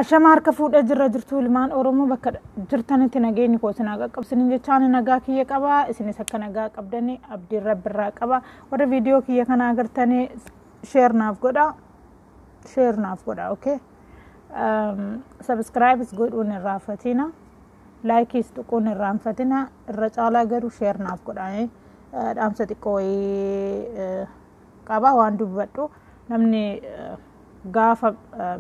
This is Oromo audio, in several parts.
Ashama harka fuudhee jirra jirtu ilmaan Oromoo bakka jirtanitti nageenyi koo isin haa qaqqabsinin jechaan nagaa kiyya qaba isinis akka nagaa qabdanii abdiin rabbi irraa qaba warri viidiyoo kiyya kana agartanii sheer naaf godha sheer naaf godha okay sabiskiraayibis godhuun irraa fatina laayikiis tuquun irraa hin fatina irra caalaa garuu sheer naaf godha dhaamsa xiqqoo wayii qaba waan dubbadhu namni gaafa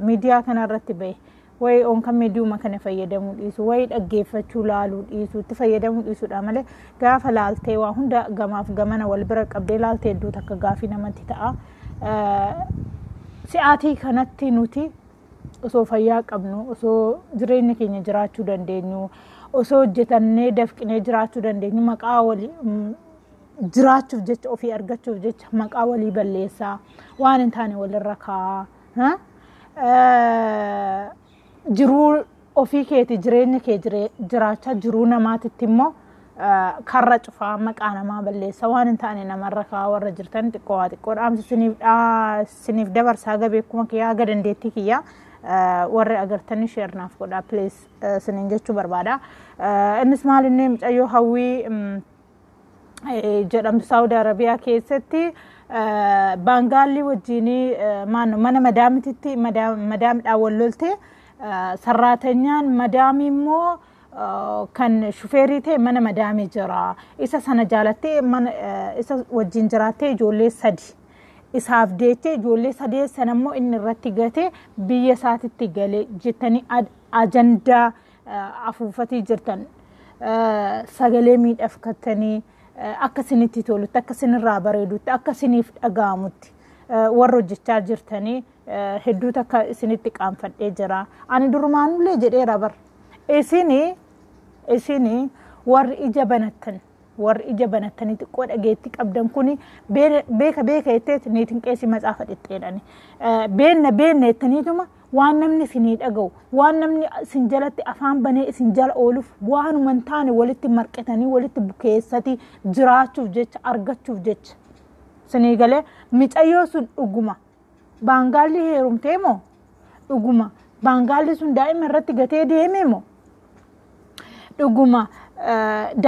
miidiyaa kana irratti bahe wayi onka miidiyuma kana fayyadamuu dhiisu wayi dhaggeeffachuu laaluu dhiisu itti fayyadamuu dhiisudha malee gaafa laaltee waa hunda gamaaf gamana wal bira qabdee laaltee iddoo takka gaafii namatti ta'a. Si'aatii kanatti nuti osoo fayyaa qabnu osoo jireenya keenya jiraachuu dandeenyu osoo hojjetannee dafqinee jiraachuu dandeenyu maqaa wali jiraachuuf jecha ofii argachuuf jecha maqaa walii balleessaa waan hin taane walirra kaa'aa ha? Eh, jiruu ofii keeti jireenya kee jire- jiraachaa jiruu namaatitti immoo eh, karra cufaa maqaa namaa balleessaa waan hin taane namarra kaa'aa warra jirtan xiqqoo waa xiqqoo dhaamsi isiniif dhaa- isiniif dabarsaa gabeekuma kiyyaa aga dandeettii kiyyaa eh, warri agartanii sheernaaf godhaa please eh, isiniin jechuu barbaada Eh, innis maal inni mucayyoo hawwii mm, jedhamtu saawudi arabiyaa keessatti baangaallii wajjiin mana madaamititti madaamidhaan wal lolte sarraatanyaan madaamii immoo kan shufeerii ta'e mana madaamii jira isa sana jaalattee mana isa wajjin jiraattee ijoollee sadi isaaf deettee ijoollee sadee sana immoo inni irratti gate biyya isaatitti gale jettanii ajandaa afuufatii jirtan sagalee miidhagfattanii akka isinitti tolutti akka isinirraa bareedutti akka isiniif dhaga'amutti warra hojjechaa jirtanii hedduu takka isinitti qaanfadhee jira ani durumaanullee jedheera bar isini isini warri ija banattan warri ija banattanii xiqqoo dhageetti qabdan kuni beeka beeka jetteet niitiin qeesii matsaafa dhixxeedhani beenna beenna jettaniituma Waan namni isinii dhaga'u, waan namni isin jalatti afaan banee isin jala ooluuf waanuma hin taane walitti marqitanii walitti bukeessati jiraachuuf jecha argachuuf jecha. Isinii galee micayyoo sun dhuguma baangaalli heerumtee moo dhuguma baangaalli sun daa'ima irratti gatee deemee moo dhuguma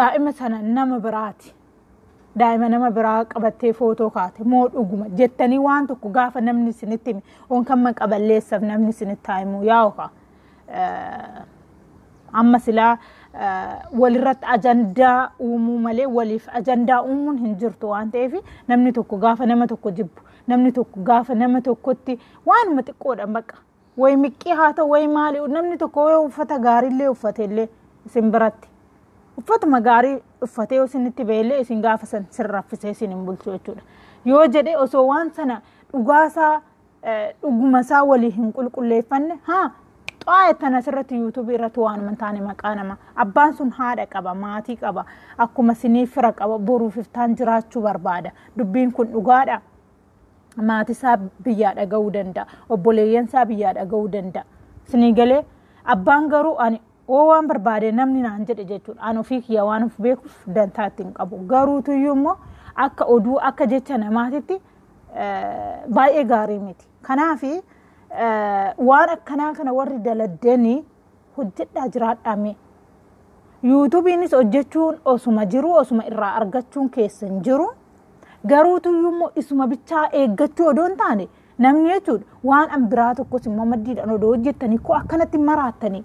daa'ima sana nama biraati. daa'ima nama biraa qabattee footoo kaate moo dhuguma jettanii waan tokko gaafa namni isinitti hime on kan maqa balleessaf namni isinitti himu yaa'u kaa amma silaa walirratti ajandaa uumuu malee waliif ajandaa uumuun hin jirtu waan ta'eef namni tokko gaafa nama tokko jibbu namni tokko gaafa nama tokkotti waanuma xiqqoodhaan baqa way miqqii haa ta'u way maali namni tokko yoo uffata gaariillee uffatellee isin biratti uffatuma gaarii uffatee isinitti ba'ellee isin gaafa san sin raffisee isin hin bulchu jechuudha yoo jedhe osoo waan sana dhugaasaa dhugumasaa walii hin qulqulleeffanne haa xaa'e tan asirratti yuutuubii irratti waan hin taane maqaa nama abbaan sun haadha qaba maatii qaba akkuma sinii fira qaba boruuf iftaan jiraachuu barbaada dubbiin kun dhugaadha maatisaa biyyaa dhaga'uu danda'a obboleeyyansaa biyyaa dhaga'uu danda'a sinii galee abbaan garuu ani oo waan barbaade namni naan jedhe jechuudha an ofii kiyya waan of beekuuf dantaa ittiin qabu garuutuyyuu immoo akka oduu akka jecha namaatitti baay'ee gaarii miti kanaafi waan akkanaa kana warri daladdanii hojjedhaa jiraadhaa mee. Yuutubiinis hojjechuun osuma jiru osuma irraa argachuun keessan jiru. Garuu tuyyuu immoo isuma bichaa eeggachuu odoo hin taane namni jechuudha waan an biraa tokkos immoo maddiidhaan odoo hojjettanii koo akkanatti hin maraattanii.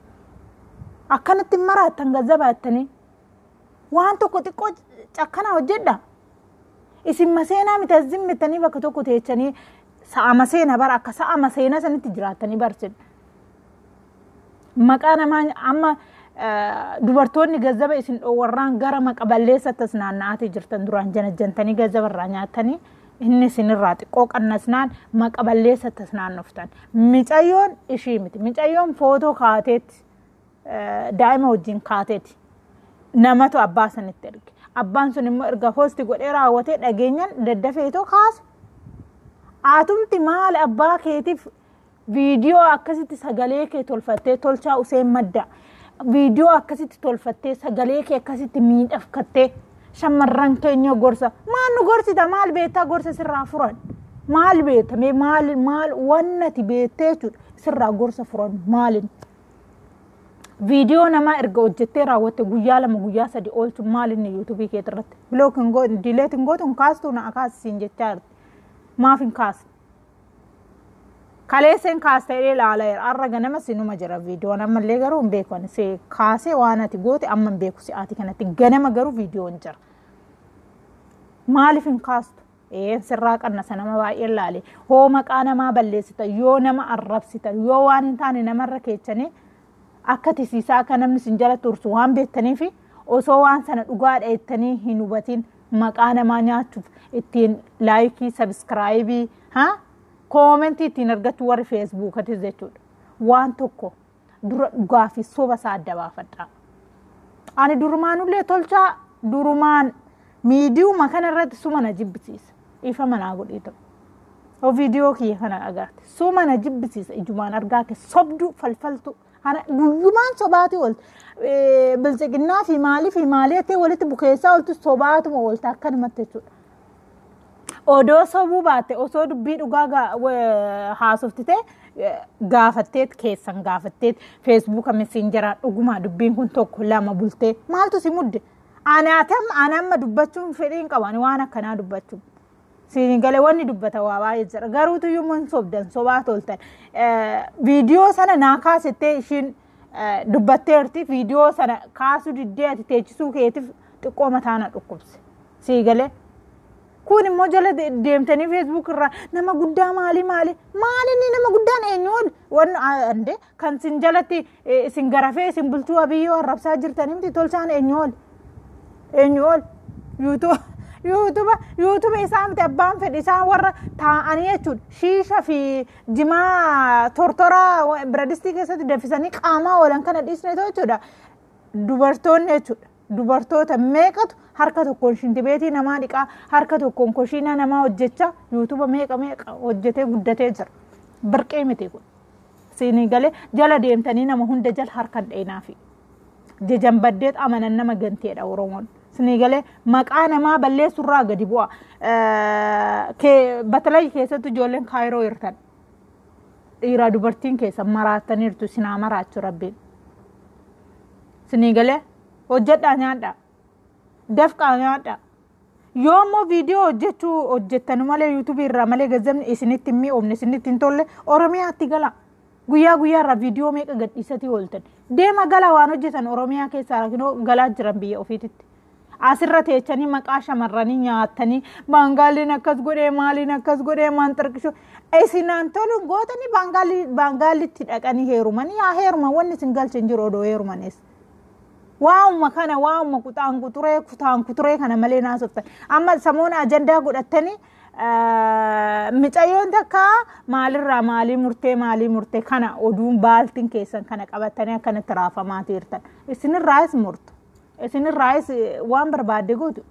Akkanatti hin maraattan gazzabaattanii. Waan tokko xiqqoo cakkanaa hojjedhaa. Isin maseenaa miti as zimmittanii bakka tokko teechanii sa'a maseena bara akka sa'a maseena sanitti jiraattanii barsin. maqaa namaa amma dubartoonni gazzaba isin dhoowwarraan gara maqa balleessatti as naanna'aatii jirtan duraan janajjantanii gazzaba irraa nyaatanii inni isinirraa xiqqoo qannasnaan maqa balleessatti as naannoftan micayyoon ishii miti micayyoon footoo kaateetti daa'ima wajjin kaateeti namatu abbaa sanitti erge abbaan sun immoo erga hoosti godhee raawwatee dhageenyan daddafeetoo kaase aatumti maal abbaa keetiif viidiyoo akkasitti sagalee kee tolfattee tolchaa useen madda viidiyoo akkasitti tolfattee sagalee kee akkasitti miidhagfattee shamarran keenya gorsa maal nu gorsita maal beektaa gorsa sirraa furan maal beekta mee maal maal wannati beektee jechuudha sirraa gorsa furan maalin viidiyoo namaa erga hojjettee raawwatte guyyaa lama guyyaa sadi oolchu maalinni yuutuubii keetirratti bilookin dileetin gootuun kaastuu na akaasisiin jechaa jirti maaf hin kaasne Kaleesseen kaasta jedhee ilaalaa jira. Har'a ganama sinuma jira viidiyoon ammallee garuu hin beeku. Ani si kaasee waan ati goote amma hin beeku si'aati kanatti. Ganama garuu viidiyoon jira. Maaliif hin kaastu? Ee sirraa qannasa nama baay'ee ilaale. Hoo maqaa namaa balleessita yoo nama arrabsita yoo waan hin taane namarra keechanii akka tisiisaa akka namni isin jala tursu waan beektaniif osoo waan sana dhugaadha jettanii hin hubatin maqaa namaa nyaachuuf ittiin laayikii sabiskiraayibii haa koomentii ittiin argachuu warri feesbuukatis jechuudha waan tokko dura dhugaa fi soba isaa adda baafadhaa. Ani durumaanullee tolchaa durumaan miidiyuma kana irratti suma na jibbisiisa dhiifama naa godhii ta'u yoo viidiyoo kiyya kana agarte suma na jibbisiisa ijumaan argaa kee sobduu falfaltuu Ana guyyumaan sobaatii oolti. Bilchiginnaa fi maalii fi maalii jettee walitti bukeessaa oolti sobaatuma oolti akkanumatti jechuudha. Odoo sobuu baatte osoo dubbii dhugaa gaa- wa- haasoftite eh, gaafatteet keessan gaafatteet feesbuuka messenjeraa dhugumaa dubbiin kun tokko lama bultee maaltu si mudde Anaatam an amma dubbachuun fedhii hin qabu ani waan akkanaa dubbachuu. Siin galee wanni dubbata waa baay'ee jira garuutu iyyuu hin sobdan sobaa toltan viidiyoo sana naa kaasettee ishiin dubbatteerti viidiyoo sana kaasuu diddee ati teechisuu keetiif xiqqoo mataa na dhukkubse sii galee. Kun immoo jala deemtanii feesbuuk irraa nama guddaa maali maali maali inni nama guddaan eenyu ol wanni Kan sin jalatti isin garafee isin bulchuu abiyyoo arrabsaa jirtan himti tolchaan eenyu ol eenyu ol yuutuba yuutuba isaa miti abbaan fedhe isaan warra taa'anii jechuudha shiisha fi jimaa tortoraa biradistii keessatti dafisanii qaamaa oolan kana dhiisneetu jechuudha dubartoonni jechuudha. dubartoota meeqatu harka tokkoon shintibeetii namaa dhiqaa harka tokkoon koshiinaa namaa hojjechaa yuutuba meeqa meeqa hojjetee guddatee jira birqee miti kun siinii galee jala deemtanii nama hunda jala harka hin dheenaafi jejan baddeet amanan nama ganteedha oromoon siinii galee maqaa namaa balleessurraa gadi bu'a batalay keessatti ijoolleen kaayiroo hirtan dhiiraa dubartiin keessan maraattaniirtu isin haa maraachu rabbiin isinii galee hojjedhaa nyaadhaa dafqaa nyaadhaa yoo ammoo viidiyoo hojjechuu hojjettanu malee yuutubii irraa malee gazzabni isinitti hin mi'oofne isinitti hin tolle oromiyaatti gala guyyaa guyyaa irraa viidiyoo meeqa gadhiisatii ooltan deema gala waan hojjetan oromiyaa keessaa galaa jiran biyya ofiititti Asirra teechanii maqaa shamarranii nyaattanii baangaaliin akkas godhee maaliin akkas godhee maan xirqishu isinaan toluun gootanii baangaalii baangaalitti dhaqanii heerumanii yaa heeruma wanni isin galche hin jiru odoo heerumanis. Waa'uma kana waa'uma kutaan kuturee kutaan kuturee kana malee naasoftan amma samoona ajandaa godhattanii micayyoon takka maalirraa maalii murtee maalii murtee kana oduun baaltiin keessan kana qabattanii akkanatti raafamaa jirtan isinirraas murtu. Isinirraayis waan barbaadde gootu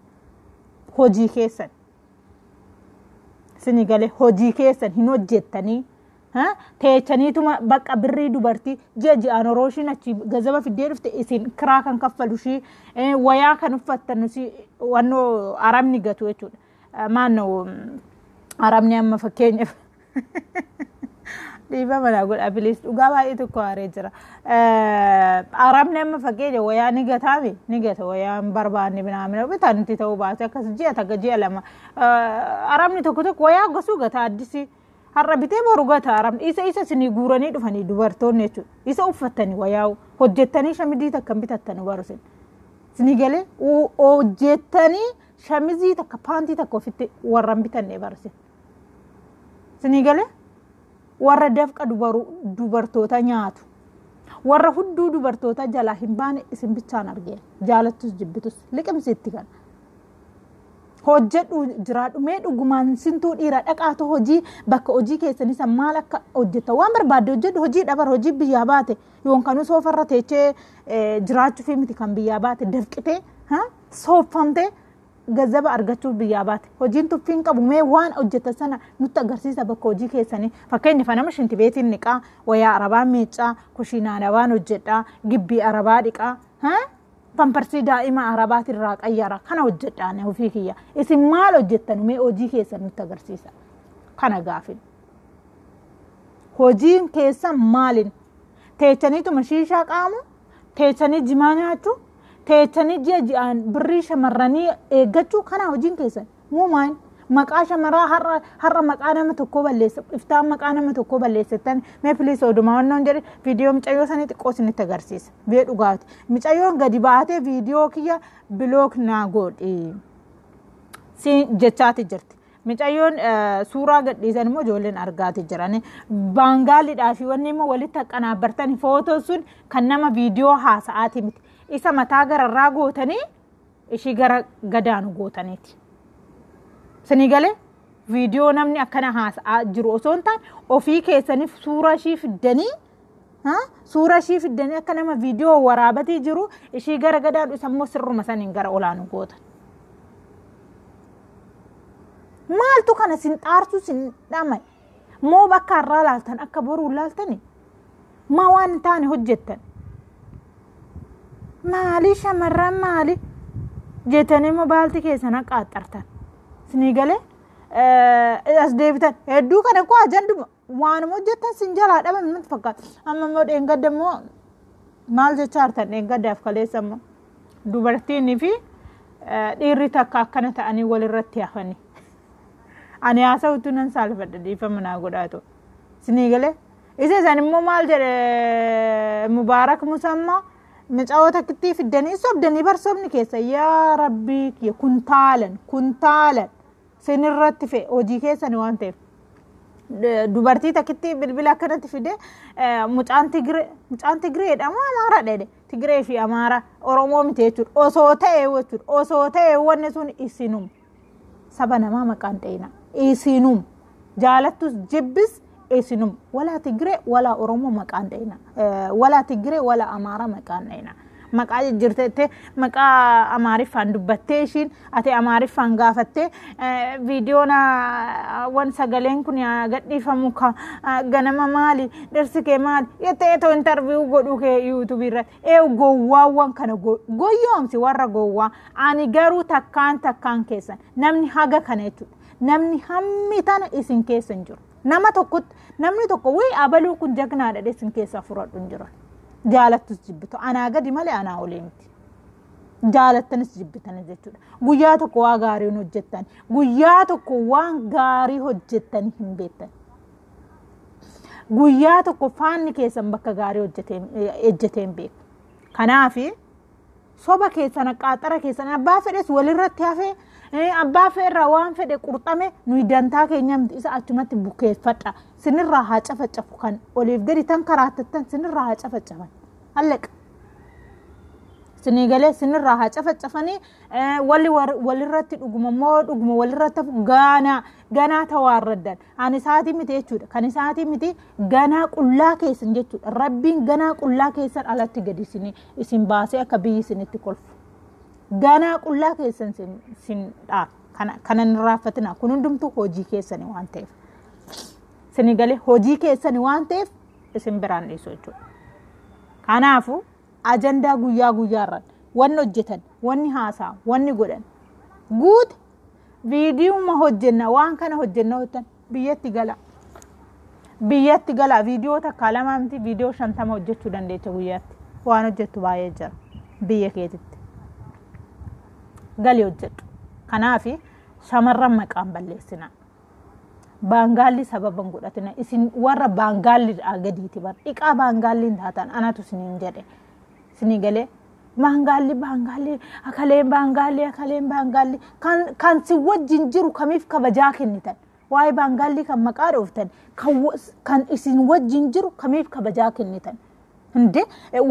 hojii keessan. Isinii galee hojii keessan hin hojjettanii. Teechaniituma bakka birrii dubartii ji'a ji'aan horoo ishiin achi gazaba fiddee dhufte isin kiraa kan kaffalu ishii wayaa kan uffattan wannoo arabni gatu jechuudha. Maannoo arabni amma fakkeenyaaf. dhiifama naa godha piliis dhugaa baay'ee tokko haaree jira arabni amma fakkeenya wayaa ni gataami ni gata wayaa hin barbaanne binaamina bitaan itti ta'uu baate akkas ji'a takka ji'a lama arabni tokko tokko wayaa gosuu gata addisi har'a bitee boru gata arabni isa isa isinii guuranii dhufanii dubartoonni jechuudha isa uffattanii wayaa hojjettanii shamizii takka hin bitattanu barusin isinii galee hojjettanii shamizii takka paantii takka ofitti warra hin bitannee barusin Sinii galee warra dafqa dubartoota nyaatu warra hudduu dubartoota jalaa hin baane isin bichaan argee jaalattus jibbitus liqimsiitti kana. Hojjedhu jiraadhu mee dhugumaan sintuu dhiira dhaqaatu hojii bakka hojii keessanii san maal akka hojjetta waan barbaadde hojjedhu hojii dhabar hojii biyyaa baate yoonkanuu soofarra teechee jiraachuuf miti kan biyyaa baate dafqitee soofamtee gazzaba argachuuf biyyaa baate hojiin tuffii hin qabu mee waan hojjetan sana nutti agarsiisa bakka hojii keessanii fakkeenya fanama shinti beetiin niqaa wayaa arabaa miiccaa kushiinaa arabaan hojjedhaa gibbii arabaa dhiqaa pamparsii daa'ima arabaati irraa qayyara kana hojjedhaan ofii kiyya isin maal hojjettan mee hojii keessan nutti agarsiisa kana gaafin hojiin keessan maalin teechaniituma shiishaa qaamu teechanii jimaa nyaachuu teechanii ji'a ji'aan birrii shamarranii eeggachuu kanaa hojiin keessan muumaan maqaa shamaraa har'a har'a maqaa nama tokkoo balleessa iftaan maqaa nama tokkoo balleessatan mee piliis odumaa wannoon jedhe viidiyoo micayyoo sanii xiqqoo isinitti agarsiisa bee dhugaati micayyoon gadi baatee viidiyoo kiyya bilook naa godhi siin jechaati jirti Micayyoon suuraa gadhiisan immoo ijoolleen argaati jiran. Baangaalidhaa fi wanni immoo walitti haqqanaabbartani footoo sun kan nama viidiyoo haasa'aati miti. Isa mataa gararraa gootanii ishii gara gadaanu gootaniiti. Sinii galee viidiyoo namni akkana haasa'aa jiru osoo hin taane ofii keessaniif suuraa ishii fiddanii Suura ishii fiddanii akka nama viidiyoo waraabatii jiru ishii gara gadaa dhusa immoo sirruma saniin gara olaanu goota. Maaltu kana sin xaarsu sin dhama'e? Moo bakka har'aa laaltan akka boruu laaltani? Maa waan hin taane hojjettan? Maali shamarran maali? Jettanii immoo baalti keessan akka axxartan. Sinii galee as deebitan hedduu kana koo ajanduma. Waanuma hojjettan sin jalaa dhabame natti fakkaata. Amma immoo dheengadda immoo maal jechaa jirtan dheengaddaaf kaleessa immoo dubartiinii fi eh, dhiirri takka akkana ta'anii walirratti hafanii. Ani haasa'u utuu nan saalfadha dhiifama naa godhaatu. Sinii galee isa isaan immoo maal jedhe mubaarak musammaa micaa'oo takkittii fiddanii sobdanii barsoomni keessa yaa rabbii kiyya kuntaalan kuntaalan. sin irratti fe hojii keessani waan ta'eef D- dubartii takkitti bilbila akkanatti fide eh, mucaan tigire mucaan tigireedha moo amaara dhede tigiree fi amaara oromoo miti jechuudha osoo ta'e jechuudha osoo ta'e wanni sun isinum saba namaa maqaan dhayina isinum jaalattus jibbis Esinum walaa Tigire walaa Oromoo maqaan dhayina. Walaa Tigire walaa Amaaraa maqaan dhayina. Maqaa jijjirteettee maqaa Amaariffaan dubbattee ishiin ati Amaariffaan gaafattee viidiyoon wan sagaleen kun gadhiifamu ka ganama maali dhirsi kee maali jettee too intarviiyuu godhuu kee yuutuubii irratti ee gowwaawwan kana goyyoomsi warra gowwaa ani garuu takkaan takkaan keessan namni haga kana jechuudha. namni hammi tana isin keessa hin jiru nama tokkotti namni tokko wii abaluu kun jagnaadha dhe isin keessaa furadhu hin jiran jaalattus jibbitu anaa gadi malee anaa olii miti jaalattanis jibbitanis jechuudha guyyaa tokko waa gaarii hin hojjettan guyyaa tokko waan gaarii hojjettanii hin beektan guyyaa tokko faanni keessan bakka gaarii hojjetee- ejjetee hin beeku kanaafi soba keessan qaaxara keessan abbaa fedhes walirratti hafee eh, abbaa fedherraa waan fedhe qurxame nuyi dantaa keenya miti isa achumatti bukeeffadha sinirraa haa cafacafu kan oliif gadi tan karaattattan sinirraa haa cafacafan hallaqa sinii galee sinirraa haa cafacafanii eh, walli war- walirratti dhuguma moo dhuguma walirratti hafu gaanaa ganaa tawaarraddan Kan isaatii miti jechuudha. Kan isaatii miti ganaa qullaa keessan jechuudha. Rabbiin ganaa qullaa keessan alatti gadi isin isin baasee akka biyyi isinitti kolfu. Ganaa qullaa keessan isin isin dha. Kana kana hin raaffatina. Kun hundumtuu hojii keessani waan ta'eef. Isin galee hojii keessani waan ta'eef isin biraan dhiisu jechuudha. Kanaafuu ajandaa guyyaa guyyaarraan wanni hojjetan, wanni haasa'an, wanni godhan guutu viidiyuma hojjenna waan kana hojjenna hojjetan biyyatti gala biyyatti gala viidiyoo takkaa lamaa miti viidiyoo shantama hojjechuu dandeecha guyyaatti waan hojjettu baay'ee jira biyya keetitti gali hojjedhu kanaaf shamarran maqaan balleessina baangaalli sababa hin godhatina isin warra baangaalli gadiiti bar dhiqaa baangaalliin taatan anatu isiniin jedhe isinii galee baangaalli baangaalli akaleen baangaalli akaleen baangaalli kan kan si wajjin jiru kamiif kabajaa kennitan waa'ee baangaalli kan maqaa dhooftan kan wa- kan isin wajjin jiru kamiif kabajaa kennitan Hinde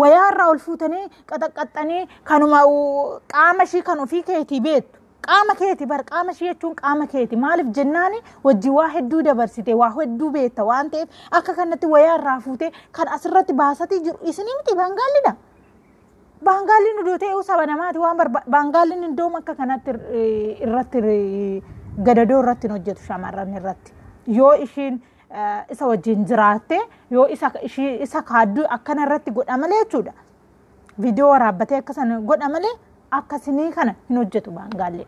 wayaa irraa ol fuutanii qaxaqqaxxanii kanuma u- qaama ishii kan ofii keetii beektu qaama keeti bar qaama ishii jechuun qaama keeti maaliif jennaani wajji waa hedduu dabarsite waa hedduu beekta waan ta'eef akka kanatti wayaa irraa fuutee kan asirratti baasatii jiru isinii miti baangaallidha. Baangaalliin odoo ta'eehu saba namaati waan barbaadu. Baangaalliin iddooma akka kanatti irratti gadadoo irratti hin hojjetu shamarran irratti. Yoo ishiin isa wajjin jiraatte yoo isa kaadduu akkana irratti godha malee jechuudha. Viidiyoo waraabbatee akka sana godha malee akkasinii kana hin hojjetu baangaallee.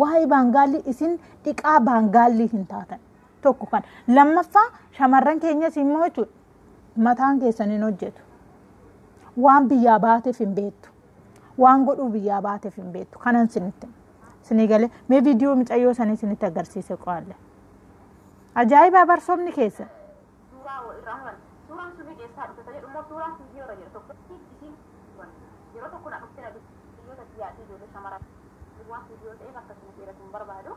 Waa'ee baangaallii isin dhiqaa baangaallii hin taatan. Tokko kan lammaffaa shamarran keenyas immoo jechuudha. Mataan keessan hin hojjetu. Waan biyyaa baateef hin beektu. Waan godhuu biyyaa baateef hin beektu. Kanan sinitti. Sinii galee mee viidiyoo micayyoo sanii sinitti agarsiise qo'alle. Ajaa'ibaa barsoomni keessa. suuraa wal irraa muran suuraan sunni keessaa dhufte jedhu immoo suuraa viidiyoo irra jedhu tokko isiin muran yeroo tokko na dhufte na dubbiyyoota biyyaatti ijoollee shamaraa waan viidiyoo ta'eef akkasuma dheeratu hin barbaadu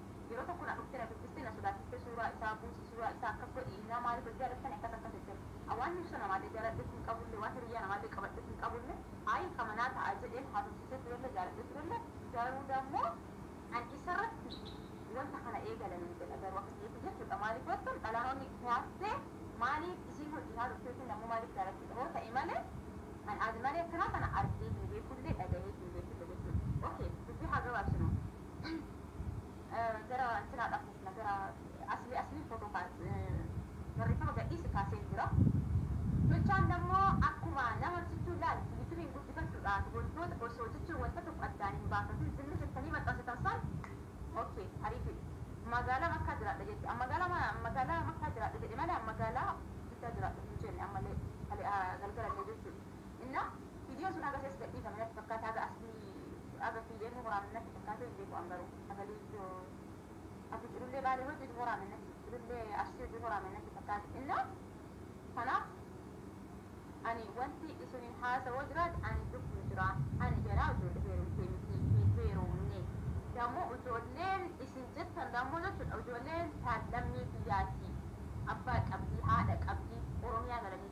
Yeroo tokko na dhufte na dubbiste na sodaachiste suuraa isaa buusi suuraa isaa akkas godhi innaa maaliif wal jaalattani akkas akkas jettani a waan hirso namaalle jaaladhe hin qabulle waan hiriyyaa namaalle qabadhe hin qabulle ayi ka manaa ta'a jedheen haasofsiisee turelle jaaladhe turelle garuu dammo an isarratti wanta kana eegale nan jedha garuu akka kiyyaatti jechuudha maaliif yoottan dhalaan ol dhihaattee maaliif isiin ol dhihaa turte yookiin dammo maaliif jaalattudha hoo ta'e malee an azimalee akkanaa kana argee hin beekulle dhagahee hin beekulle jechuudha ok dubbii haa gabaabsinu gara intinaa dhaquufna gara aslii asliin footoo kaa barreeffama gadhiisi kaa seen jira jechaan nammo akkuma nama sichuu laal yutubiin guddifachudhaaf wantoota osoo jechuun wanta tokko addaan hin baafatin zimmi jettanii maxxansitan san ok hariifi magaalaa makkaa jiraadha jette an magaalaa ma- magaalaa makkaa jiraadha jedhe malee an magaalaa jiddaa jiraadha hin jenne ammallee kale- ah, galgalallee jechuudha inna Video sun haga ses gadhiifame natti fakkaata haga asli haga kiyya inni waraabne natti fakkaatu hin beeku an garuu sagalii video abu jirullee baalee hojjetu waraabne natti jirullee arsii hojjetu waraabne natti fakkaata inna kanaaf ani wanti isinin haasawoo jiraate ani lubbu jira ani jaraa ijoollee heerumtee miti hin heerumne dammoo ijoolleen isin jettan dammoo jechuudha ijoolleen taan lammii biyyaati abbaa qabdii haadha qabdii oromiyaa galanii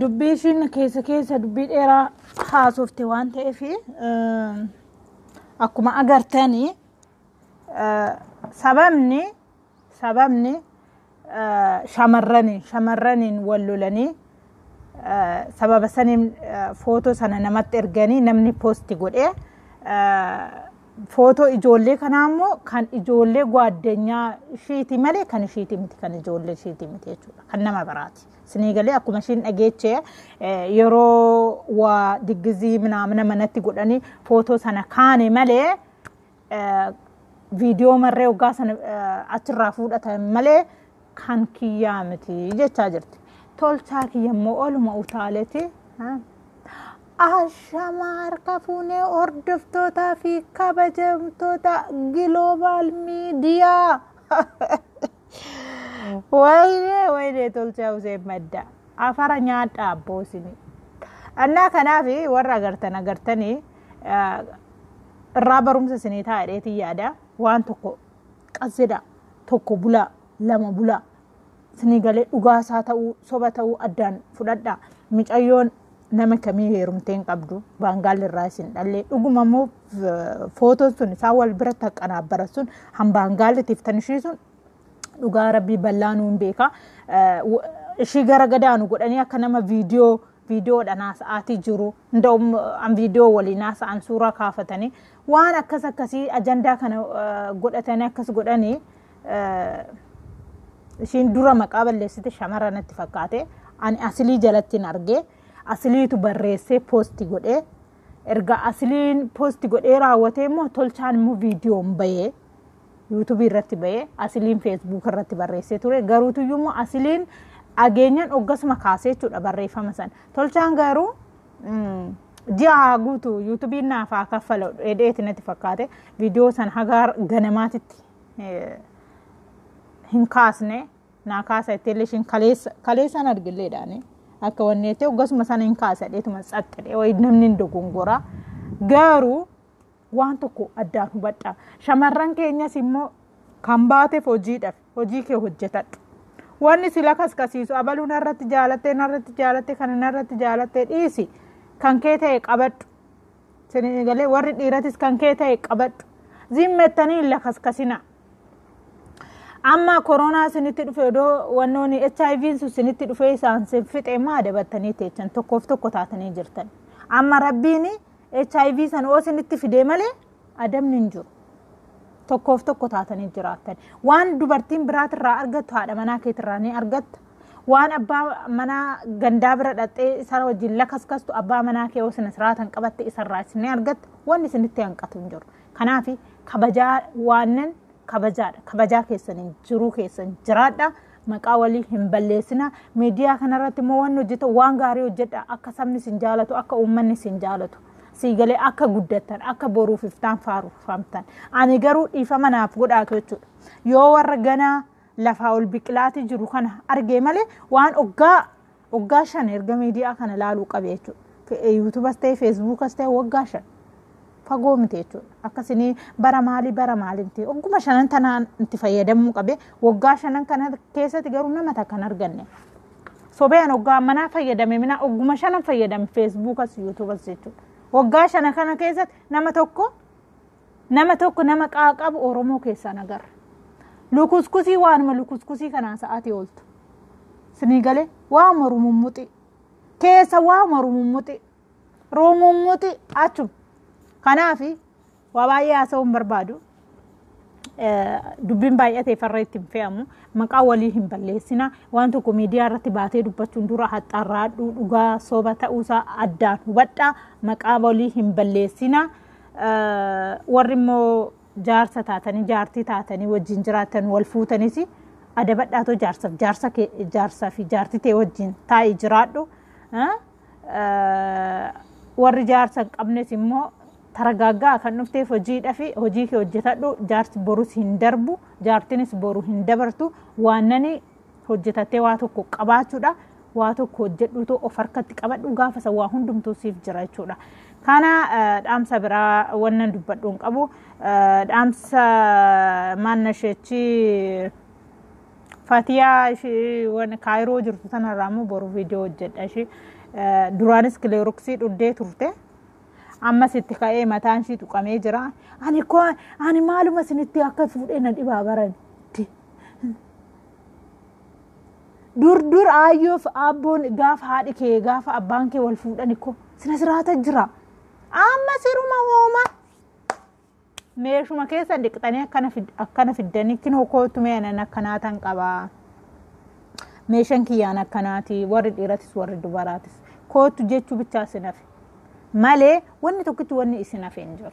Dubbii ishiin keessa keessa dubbii dheeraa haasofte waan ta'eef akkuma agartanii sababni sababni shamarraniin shamarraniin wal lolanii sababa saniin footoo sana namatti erganii namni poosti godhee footoo ijoollee kanaa immoo kan ijoollee gwaaddenyaa ishiiti malee kan ishiiti miti kan ijoollee ishiiti miti jechuudha kan nama biraati. Sinii galee akkuma ishiin dhageeche yeroo waa diggizii minaamina manatti godhanii footoo sana kaane malee viidiyoo marree waggaa sana achirraa fuudhatan malee kan kiyyaa miti jechaa jirti. Tolchaa kiyya immoo oluma utaaleeti. Ashama harka fuunee hordoftootaa fi kabajamtoota giloobaal miidiyaa. Wayyee wayyee tolchaa useen madda. Afara nyaadha abboo isinii. Annaa kanaaf warra agartan agartanii ah, irraa barumsa isinii ta'a dheetii yaada waan tokko qazzedha tokko bulaa lama bulaa isinii galee dhugaasaa ta'uu soba ta'uu addaan fudhadha micayyoon nama kamii heerumtee hin qabdu baangaalli irraa isin dhallee dhuguma immoo footoon sun isaan wal bira taqqanaabbaran sun hambaan gaallitiif tan ishii sun dhugaa rabbii bal'aa nuun beeka. Ishii gara gadaanu godhanii akka nama viidiyoo viidiyoodhaan haasa'aatii jiru. Nda'um an viidiyoo waliin haasa'an suuraa kaafatanii waan akkas akkasii ajandaa kana godhatanii akkas godhanii ishiin dura maqaa balleessite shamara natti fakkaate ani asilii jalattiin argee asiliitu barreessee poosti godhee erga asliin posti godhee raawwatee immoo tolchaan immoo viidiyoon bahee yuutubii irratti bahee asliin feesbuuk irratti barreessee ture garuutuyyuu immoo asliin ageenyan oggasuma kaasee jechuudha barreeffama san tolchaan garuu mm, ji'a haa guutu yuutubiin naaf haa kaffala dheedheeti natti fakkaate viidiyoo san hagaa ganamaatitti eh, hin kaasne naa kaasa jettee illee ishiin kaleessa kaleessaan argilleedhaan akka wanni jettee hoggasuma sana hin kaasa dheetuma saxxadhee wayi namni hin dogongoraa garuu waan tokko addaan hubadhaa shamarran keenyas immoo kan baateef hojiidhaaf hojii kee hojjetadhu. Wanni sila kaskasiisu abaluu narratti jaalattee narratti jaalattee kana narratti jaalattee dhiisi kan kee ta'e qabadhu. Sinigalee warri dhiiratis kan kee ta'e qabadhu. Zimmettanii hin lakaskasinaa. amma koronaa isinitti dhufe odoo wannoon hiv sun isinitti dhufee isaan sin fixe immoo adabattanii teechan tokkoof tokko taatanii jirtan amma rabbiin hiv san oo isinitti fidee malee adabni hin jiru tokkoof tokko taatanii jiraattan waan dubartiin biraatirraa argattu haadha manaa keetirraa ni argatta waan abbaa manaa gandaa bira dhaqxee isaa wajjin lakaskastu abbaa manaa kee osina siraatan qabatte isarraa isin ni argatta wanni isinitti hanqatu hin jiru Kanaaf kabajaa waannan kabajaadha. Kabajaa keessaniin jiruu keessan jiraadha. Maqaa walii hin balleessina. Miidiyaa kanarratti immoo waan hojjetan waan gaarii hojjedha. Akka sabni isin jaalatu, akka uummanni isin jaalatu. Siigalee akka guddattan, akka boruuf iftaan faarfamtan. Ani garuu dhiifama naaf godhaatu jechuudha. Yoo warra ganaa lafaa ol biqilaatii jiru kana argee malee waan oggaa Waggaa shan erga miidiyaa kana laaluu qabe jechuudha. Yuutuubas ta'e feesbuukas ta'e waggaa shan fagoo miti jechuudha. Akkasini bara maalii bara maalii miti. Wagguma shanan tanaan itti fayyadamuu qabe waggaa shanan kana keessatti garuu nama takka hin arganne. Sobeen waggaa manaa fayyadame minaa wagguma shanan fayyadame feesbuukas yuutuubas jechuudha. Waggaa shana kana keessatti nama tokko Nama tokko nama qaaqabu Oromoo keessaa hin agarre. Lukuskusii waanuma lukuskusii kanaa sa'aatii ooltu. Sinii galee waanuma rumummuxii. Keessa waanuma rumummuxii. Rumummuxii achuma. Kanaaf waa baay'ee haasa'uu hin barbaadu. dubbiin baay'atee farra itti hin fe'amu maqaa walii hin balleessina waan tokko miidiyaa irratti baatee dubbachuun dura haxxarraadhuu dhugaa soba ta'uusaa addaan hubadhaa maqaa walii hin balleessina warri immoo jaarsa taatanii jaartii taatanii wajjin jiraatan wal fuutanis adabadhaatoo jaarsaaf jaarsa kee jaarsaa fi jaartii tee wajjin taa'ii jiraadhu Ah, ah, warri jaarsa hin qabnes immoo taragaaggaa kan dhufteef hojiidha fi hojii kee hojjetadhu jaarsi borus hin darbu jaartinis boru hin dabartu waannani hojjetattee waa tokko qabaachuudha. Waa tokko hojjedhuutu of harkatti qabadhu gaafa san waa hundumtuu siif jira jechuudha. Kana dhaamsa biraa wannan dubbadhu hin qabu. Dhaamsa maannasheechi Fatiyaa ishee waan kaayiroo jirtu sanarraa immoo boru viidiyoo hojjedha ishee. Duraanis kileeroksii dhuddee turte. Ammas itti ka'ee mataan ishee tuqamee jira. Ani koo ani maaluma isinitti akka fuudhee na dhibaa barani. dur dur aayyoof abboon gaafa haadhi kee gaafa abbaan kee wal fuudhan ikko sina siraata jira amma siruma hooma meeshuma keessa dhiqxanii akkana fid- akkana fiddanii kinoo kootu meenan akkanaa tan qabaa meeshan kiyyaan akkanaati warri dhiiratis warri dubaraatis kootu jechuu bichaa isin hafe malee wanni tokkitti wanni isin hafe hin jiru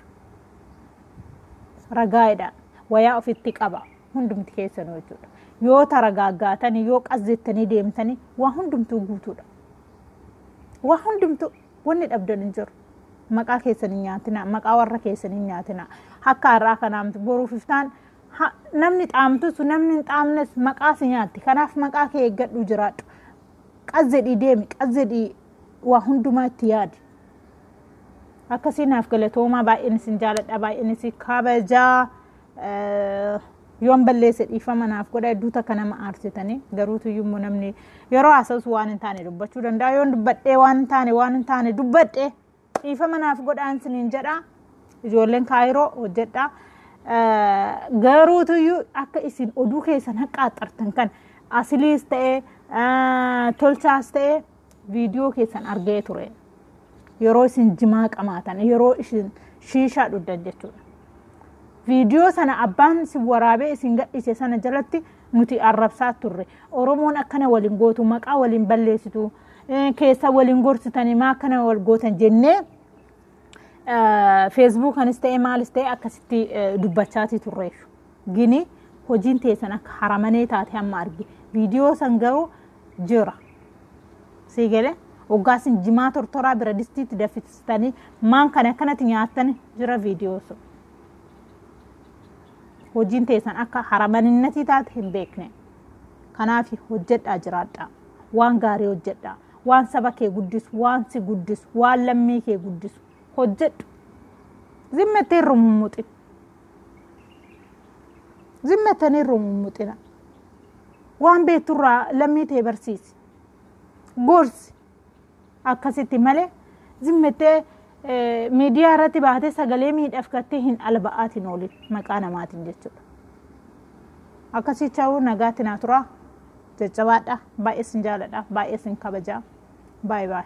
ragaadha wayaa ofitti qaba hundumti keessanuu jechuudha. Yoo taragaaggaatanii yoo qas jettanii deemtanii waa hundumtuu guutuudha. Waa hundumtuu wanni dhabdan hin jiru. Maqaa keessan hin nyaatinaa, maqaa warra keessan hin nyaatinaa. Akka har'aa kanaamti boruuf iftaan ha- namni xaamtus namni hin xaamnes maqaa si nyaatti. Kanaaf maqaa kee eeggadhu jiraadhu. Qas jedhii deemi, qas jedhii waa hundumaa itti yaadi. Akkasii naaf galatoomaa baay'een isin jaaladha baay'een isin kabajaa. yoon balleesse dhiifama naaf godha hedduu takka nama aarsitanii garuutu immoo namni yeroo haasa'us waan hin taane dubbachuu danda'a yoon dubbadhee waan hin taane waan hin taane dubbadhee dhiifama naaf godhaan siniin jedha ijoolleen kaayiroo hojjedha garuutu iyyuu akka isin oduu keessan haqqaaxxartan kan asiliis ta'ee tolchaas ta'ee viidiyoo keessan argee ture yeroo isin jimaa qamaatan yeroo isin shiishaa dhuddan jechuudha viidiyoo sana abbaan isin waraabee isin gadhiise sana jalatti nuti arrabsaa turre oromoon akkana waliin gootu maqaa waliin balleessitu keessa waliin gorsitanii maa akkana wal gootan jennee feesbuukanis ta'e maalis ta'e akkasitti dubbachaatii turreef gini hojiin teessan akka haramanee taate hamma arge viidiyoo san garuu jira sii gale oggaasin jimaa tortoraa bira distiitti daffistanii maan kan akkanatti nyaattan jira viidiyoo sun hojiin teessan akka haramaninatii taate hin beekne kanaaf hojjedhaa jiraadhaa waan gaarii hojjedhaa waan saba kee guddisu waan si guddisu waan lammii kee guddisu hojjedhu zimmettee irra mummuxin zimmettanii irra mummuxina waan beekturraa lammii tee barsiisi gorsi akkasitti malee zimmettee miidiyaa irratti baatee sagalee miidhaaf gattee hin alba'aatiin oolin maqaa namaatiin jechuudha akkasii ta'uu nagaatti naa turaa. Jajjabaadha baay'ee sin jaaladha baay'ee sin kabaja baay baay.